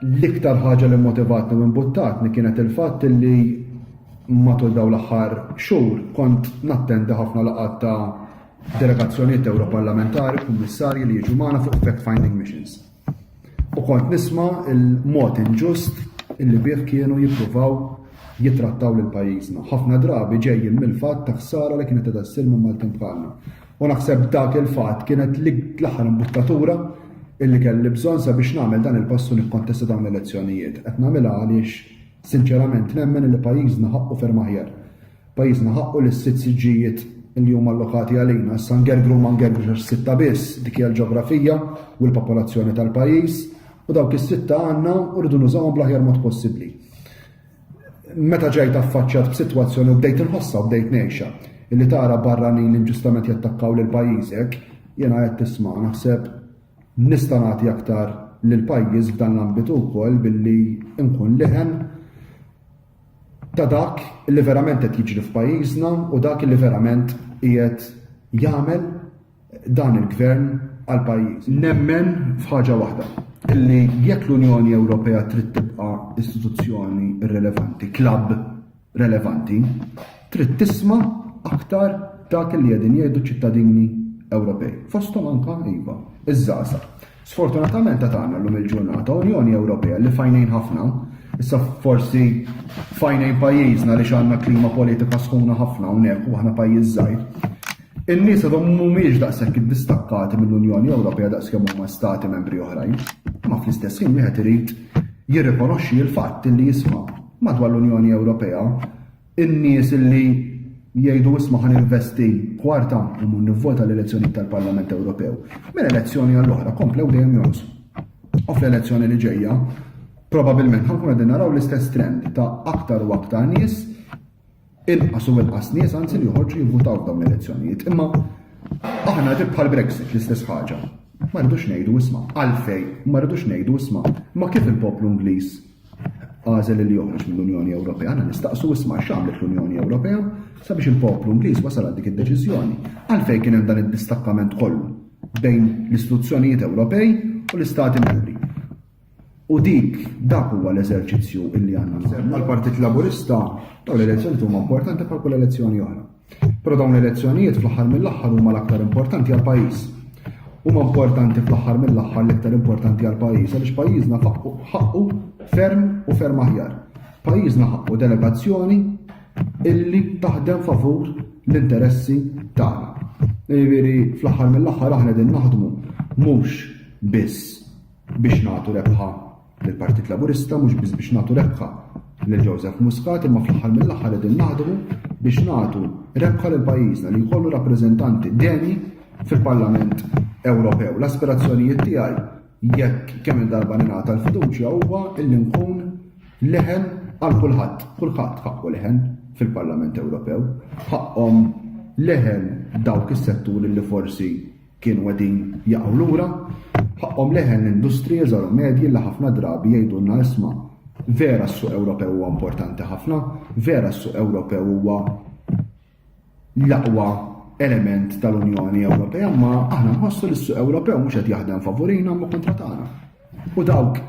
L-iktar ħaġa li motivatni u imbuttatni kienet il-fatt li matul dawn l-aħħar xhur kont nattendi ħafna laqgħat ta' delegazzjonijiet Ewroparlamentari, kummissarji li jiġu magħna fuq fact-finding missions. U kont nisma' il-mod inġust illi bih kienu jippruvaw jitrattaw lil pajjiżna. Ħafna drabi ġejjin mill-fatt ta' ħsara li kienet qed ssir minn Maltin bħalna. U naħseb dak il-fatt kienet l-aħħar imbuttatura illi kelli bżonn sabiex nagħmel dan il-pass u nikkontesta dawn l-elezzjonijiet. Qed nagħmilha għaliex sinċerament nemmen illi pajjiżna ħaqqu ferm aħjar. Pajjiżna ħaqqu li s-sitt siġġijiet illi huma allokati għalina issa ngergru u ma ngergrux għax sitta biss, dik hija l-ġeografija u l-popolazzjoni tal-pajjiż, u dawk is-sitta għandna u rridu nużawhom bl-aħjar mod possibbli. Meta ġejt affaċċjat b'sitwazzjoni u bdejt inħossha u bdejt ngħixha, illi tara barranin inġustament jattakkaw lil pajjiżek, jiena għedt isma' naħseb nista' nagħti aktar lill-pajjiż f'dan l-ambitu wkoll billi nkun leħen ta' dak li verament qed jiġri f'pajjiżna u dak li verament qiegħed jagħmel dan il-Gvern għall-pajjiż. Nemmen f'ħaġa waħda, illi jekk l-Unjoni Ewropea trid tibqa' istituzzjoni relevanti, klabb relevanti, trid tisma' aktar dak li qegħdin jgħidu ċ-ċittadini Ewropej, fosthom anke iva, iż-żgħażagħ. Sfortunatament għad għandna llum il-ġurnata Unjoni Ewropea li f'għajnejn ħafna, issa forsi f'għajnejn pajjiżna li għandna klima politika sħuna ħafna hawnhekk u aħna pajjiż żgħir, in-nies għadhom mhumiex daqshekk iddistakkati mill-Unjoni Ewropea daqskemm huma stati membri oħrajn. Ma fl-istess ħin wieħed irid jirrikonoxxi l-fatt li jisma' madwar l-Unjoni Ewropea In-nies li jgħidu isma' ħa ninvesti kwarta immur nivvota l-elezzjonijiet tal-Parlament Ewropew, minn elezzjoni għal oħra komplew dejjem jonqsu. U fl-elezzjoni li ġejja, probabilment ħa nkunu qegħdin naraw l-istess trend ta' aktar u aktar nies inqas u inqas nies anzi li joħorġu jivvutaw f'dawn l-elezzjonijiet. Imma aħna ġib bħal Brexit l-istess ħaġa. Ma rridux ngħidu isma' għalfej, ma rridux ngħidu isma' ma kif il-poplu Ingliż Għażel il-Jones mill-Unjoni Ewropea, għana nistaqsu isma' x'għamlet l-Unjoni Ewropea sabiex il-poplu Ingliż wasal għal dik id-deċiżjoni. Għalfejn kien hemm dan id-distakkament kollu bejn l-istituzzjonijiet Ewropej u l-Istati Membri. U dik dak huwa l-eżerċizzju illi għandna nsemmu. Għal-Partit Laburista dawn l-elezzjoni huma importanti bħal kull elezzjoni oħra. Però dawn l-elezzjonijiet fl-aħħar mill-aħħar huma l-aktar importanti għal pajjiż. Huma importanti fl-aħħar mill-aħħar l-aktar importanti għal pajjiż għaliex pajjiżna ħaqqu ferm u ferm aħjar. Pajjiżna ħaqqu delegazzjoni illi taħdem favur l-interessi tagħna. Jiġifieri fl-aħħar mill-aħħar aħna din naħdmu mhux biss biex nagħtu rebħa lill-Partit Laburista, mhux biss biex nagħtu rebħa lil Joseph Muscat, imma fl-aħħar mill-aħħar qegħdin naħdmu biex nagħtu rebħa lil pajjiżna li jkollu rappreżentanti deni fil-Parlament Ewropew. L-aspirazzjonijiet tiegħi jekk kemm il-darba ningħata l-fiduċja huwa illi nkun leħen għal kulħadd, kulħadd ħaqqu leħen fil-Parlament Ewropew, ħaqqhom leħen dawk is-setturi li forsi Kienu qegħdin jaqgħu lura, ħaqqhom leħen l-industriji żgħar u medji li ħafna drabi jgħidulna isma' vera s-suq Ewropew huwa importanti ħafna, vera s-suq Ewropew huwa l-aqwa element tal-Unjoni Ewropea, ma aħna nħossu li s-suq Ewropew mhux qed jaħdem favurina ma kontra tagħna. U dawk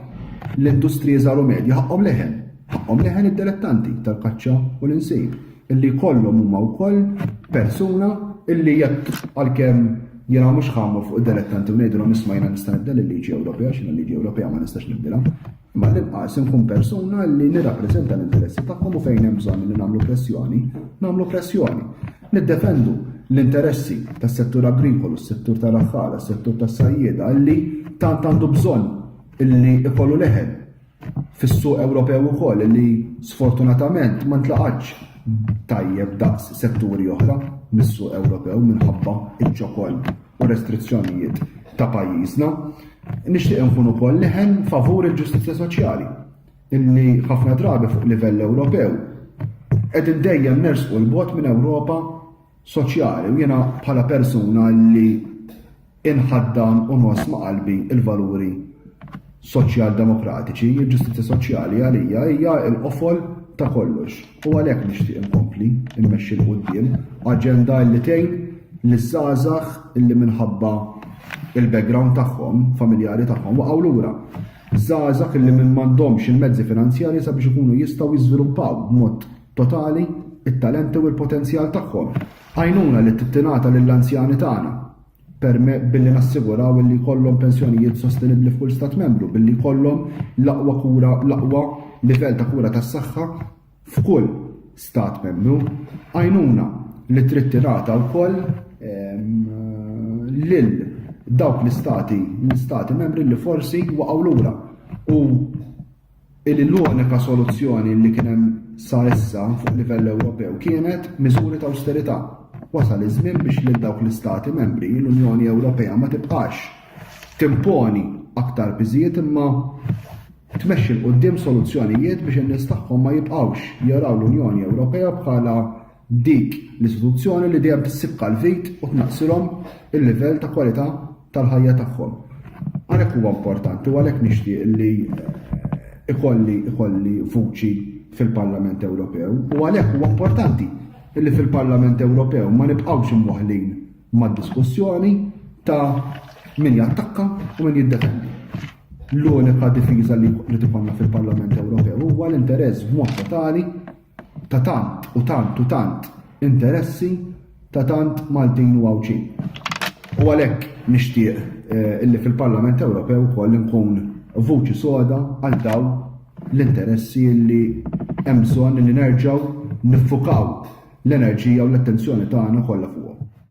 l-industriji żgħar u medji ħaqqhom leħen, ħaqqhom leħen id-dilettanti tal-kaċċa u l-insib, illi jkollhom huma wkoll persuna illi jekk għalkemm jiena mhux ħammur fuq id-dilettanti u ngħidilhom isma' jiena nista' nibdel il-liġi Ewropea x'inha l-liġi Ewropea ma nistax nibdilha. Imma l-inqas inkun persuna li nirrappreżenta l-interessi tagħhom u fejn hemm bżonn li nagħmlu pressjoni, nagħmlu pressjoni. Niddefendu l-interessi tas-settur agrikolu, s-settur tal-għaffara, s-settur tas-sajjieda li tant għandu bżonn illi ikollu leħen fis-suq Ewropew ukoll li sfortunatament ma ntlaqatx tajjeb daqs setturi oħra mis-suq Ewropew minħabba ċ-ċokon u restrizzjonijiet ta' pajjiżna. Nixtieq inkun ukoll leħen favur il-ġustizzja soċjali. illi ħafna drabi fuq livell Ewropew qegħdin dejjem nersqu l-bot minn Ewropa soċjali u jiena bħala persuna li inħaddan u nos ma' qalbi il-valuri soċjal demokratiċi, il-ġustizja soċjali għalija hija l-qofol ta' kollox. U għalhekk nixtieq inkompli immexxi l qudiem aġenda li tgħin li żgħażagħ illi minħabba il-background tagħhom, familjari tagħhom waqgħu lura. Żgħażagħ li m'għandhomx il-mezzi finanzjarji sabiex ikunu jistgħu jiżviluppaw b'mod totali t-talenti u l-potenzjal tagħhom. Għajnuna li tingħata lill-anzjani tagħna permezz billi nassiguraw li jkollhom pensjonijiet sostenibbli f'kull Stat Membru, billi jkollhom l-aqwa kura, l-aqwa livell ta' kura tas-saħħa f'kull Stat Membru, għajnuna li trid tingħata wkoll lil dawk l-Istati l-Istati Membri li forsi waqgħu lura u li l-unika soluzzjoni li kien hemm sa issa fuq livell Ewropew kienet miżuri ta' awsterità. Wasal iż-żmien biex lil dawk l-Istati Membri l-Unjoni Ewropea ma tibqax timponi aktar piżijiet imma tmexxi 'l quddiem soluzzjonijiet biex in-nies tagħhom ma jibqgħux jaraw l-Unjoni Ewropea bħala dik l-istituzzjoni li dejjem tissibka l-vit u tnaqqsilhom il-livell ta' kwalità tal-ħajja tagħhom. Għalhekk huwa importanti u għalhekk nixtieq li ikolli ikolli vuċi fil-Parlament Ewropew u għalhekk huwa importanti li fil-Parlament Ewropew ma nibqgħux imwaħħlin mad-diskussjoni ta' min jattakka u min jiddefendi. L-unika difiża li tibqanna fil-Parlament Ewropew huwa l-interess b'mod totali ta' tant u tant u tant interessi ta' tant Maltin u Għawdxin. U għalhekk nixtieq eh, illi fil-Parlament Ewropew ukoll nkun vuċi soda għal dawn l-interessi li hemm bżonn li nerġgħu niffukaw l-enerġija u l-attenzjoni tagħna kollha fuqhom.